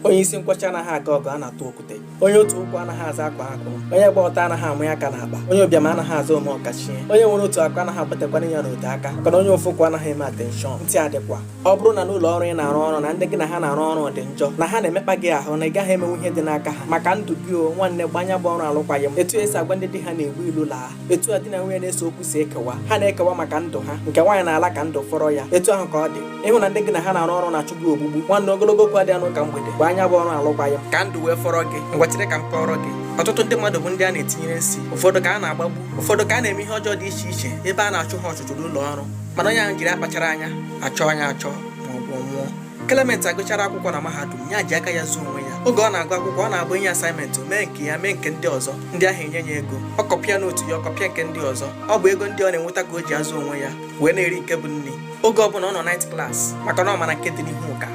onye isi nkwọcha anaghị aga ọgụ a na-atụ okwute onye otu ụkwụ anaghị aza akwaa akwụrụ onye gba ọtọ anaghị amanye aka n'akpa onye ụbịam anaghị aza ome ọkachie onye nwere otu akụ anaghị agbatakwanụ ya n'ote aka maka na onye ofu ụkwụ anaghị eme atenshọn ntị adịkwa ọ bụrụ na n'ụlọ ọrụ ị na-arụ ọrụ na ndị gị na ha na-arụ ọrụ dị njọ na ha na-emekpa gị ahụ na ị gaghị emenwu ihe dị n'aka ha maka ndụ gị o nwanne gbaa ya bụ ọrụ alụkwaghị m etu e si agwa ndị di ha na-egbu ilu laa etu a di na nwunye na-ese okwu si ekewa ha na-ekewa maka ndụ ha nke nwaanyị na-ala ka ndụ fọrọ ya etu ahụ ka ọ dị ị hụ na ndị gị na ha na-arụ ọrụ na-achụ gị ogbugbu nwanne ogologo okwu adịghị n'ụka mgbede gbaa ya bụ ọrụ alụkwaghị m ka ndụ wee fọrọ gị ngwa chere ka m kọọrọ gị ọtụtụ ndị mmadụ bụ ndị a na-etinyere nsi ụfọdụ ka a na-agbagbu ụfọdụ ka a na-eme ihe ọjọọ dị iche iche ebe a na-achụ ha ọchụchụ n'ụlọ ọrụ mana onye ahụ jiri akpachara anya achọ anya achọ ma ọ bụ nwụọ Clement gụchara akwụkwọ na mahadum ya ji aka ya zụọ onwe ya oge ọ na-agụ akwụkwọ ọ na-abụ e nye asaịmentị mee nke ya mee nke ndị ọzọ ndị ahụ enye ya ego ọ kọpịa nootu ya ọ kọpịa nke ndị ọzọ ọ bụ ego ndị ọ na-enweta ka o ji azụ onwe ya wee na-eri nke bụ nri oge ọbụla ọ nọ naịt klas maka na ọ mara nke dị n'ihu ka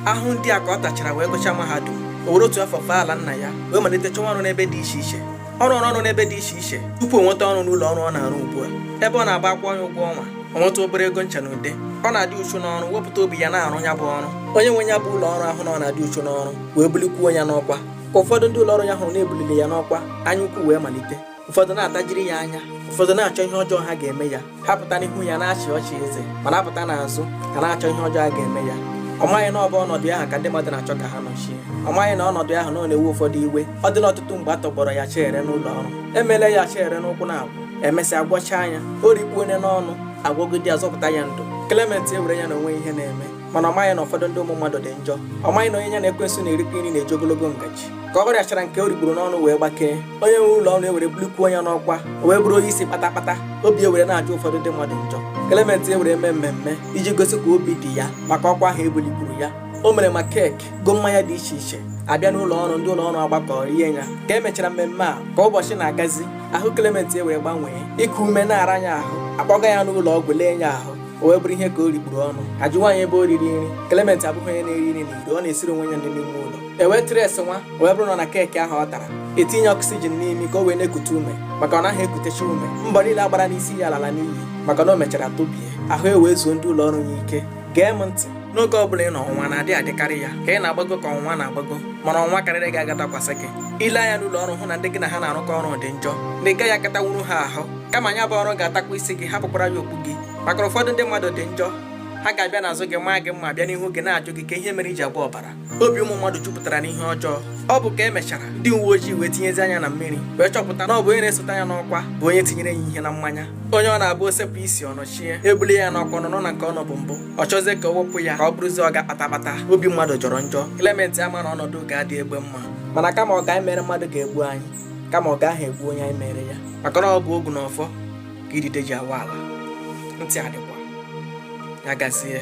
ahụhụ ndị a ka ọ tachara wee gụchaa mahadum o were otu afọ fee ala nna ya wee malite chọwa ọrụ n'ebe dị iche iche ọ rụrụ ọrụ n'ebe dị iche iche tupu o nweta ọrụ n'ụlọ ọrụ ọ na-arụ ugbu a ebe ọ na-abụ a kwụọ ya ụgwọ ọnwa o nweta obere ego ncha na ude ọ na-adị uchu n'ọrụ wepụta obi ya na-arụ ya bụ ọrụ onye nwe ya bụ ụlọ ọrụ ahụ na ọ na-adị uchu n'ọrụ wee bulikwuo ya n'ọkwa ka ụfọdụ ndị ụlọ ọrụ ya hụrụ na e bulili ya n'ọkwa anya ukwu wee malite ụfọdụ na-atajiri ya anya ụfọdụ na-achọ ihe ọjọọ ha ga-eme ya ha pụta n'ihu ya na-achị ọchị eze mana a pụta n'azụ a na-achọ ihe ọjọọ a ga-eme ya ọ maghị na ọ bụ ọnọdụ ya ahụ ka ndị mmadụ na-achọ ka ha nọchie ọ maghị na ọnọdụ ahụ ọ nọ na-ewu ụfọdụ iwe ọ dịla ọtụtụ mgbe a tọgbọrọ ya acha ere n'ụlọ ọrụ e meela ya acha ere n'ụkwụ a na-agwọ e mesịa gwọchaa ya o rikpuo ya n'ọnụ a gwọọ God azọpụta ya ndụ Clement ewere ya na o nweghị ihe na-eme mana ọ maghị na ụfọdụ ndị ụmụ mmadụ dị njọ ọ maghị na onye ya na ekwensu na-erikọ nri na-eji ogologo ngaji ka ọ rịachara nke o rikpuru n'ọnụ wee gbakee onye nwe ụlọ ọrụ ewere bulikwuo ya n'ọkwa o wee bụrụ onye isi kpatakpata obi ewere na-ajọ ụfọdụ ndị mmadụ njọ Clement ewere mee mmemme iji gosi ka obi dị ya maka ọkwa ahụ e bulikwuru ya o mere ma keeki go mmanya dị iche iche a bịa n'ụlọ ọrụ ndị ụlọ ọrụ agbakọ rie ya ka e mechara mmemme a ka ụbọchị na-agazi ahụ Clement ewere gbanwee iku ume na-ara ya ahụ a kpọga ya n'ụlọ ọgwụ lee ya ahụ o wee bụrụ ihe ka o rikpuru ọnụ a jụwa ya ebe o riri nri Clement abụghị onye na-eri nri n'iro ọ na-esiri onwe ya nri n'ime ụlọ e wee treesiwa wee bụrụ na ọ na keeki ahụ ọ tara e tinye ọksijin n'imi ka o wee na-ekute ume maka ọ naghị ekutecha ume mbọ niile a gbara n'isi ya alala n'iyi maka na o mechara tubie ahụ ewee zuo ndị ụlọ ọrụ ya ike gee m ntị n'ogo ọ bụla ị nọ ọnwụnwa na-adị adị karịa ka ị na-agbago ka ọnwụnwa na-agbago mana ọnwụnwa karịrị gị agaghị adakwasị gị i lee anya n'ụlọ ọrụ hụ na ndị gị na ha na-arụkọ ọrụ dị njọ na ị gaghị akatanwuru ha ahụ kama ya bụ ọrụ ga-atakwa isi gị hapụkwara ya okpu gị maka ụfọdụ ndị mmadụ dị njọ ha ga-abịa n'azụ gị maa gị mma bịa n'ihu gị na-ajụ gị ka ihe mere i ji agba ọbara obi ụmụ mmadụ jupụtara n'ihe ọjọọ ọ bụ ka emechara ndị uwe ojii wee tinyezi anya na mmiri wee chọpụta na ọ bụ onye na-esote ya n'ọkwa bụ onye tinyere ya ihe na mmanya onye ọ na-abụ o sepụ isi ọ nọchie ebuli ya n'ọkwa nọ na nke ọ nọbu mbụ ọ chọzie ka o wepụ ya ka ọ bụrụzie ọga kpatakpata obi mmadụ jọrọ njọ Clement ama na ọnọdụ ga-adị egbe mma mana kama ọgọ anyị mere mmadụ ga-egbu anyị kama ọgọ ahụ egbuo onye anyị mere ya maka na ọ bụ ogu na ọfọ ka idide ji awa ala ntị adịkwa ya gazie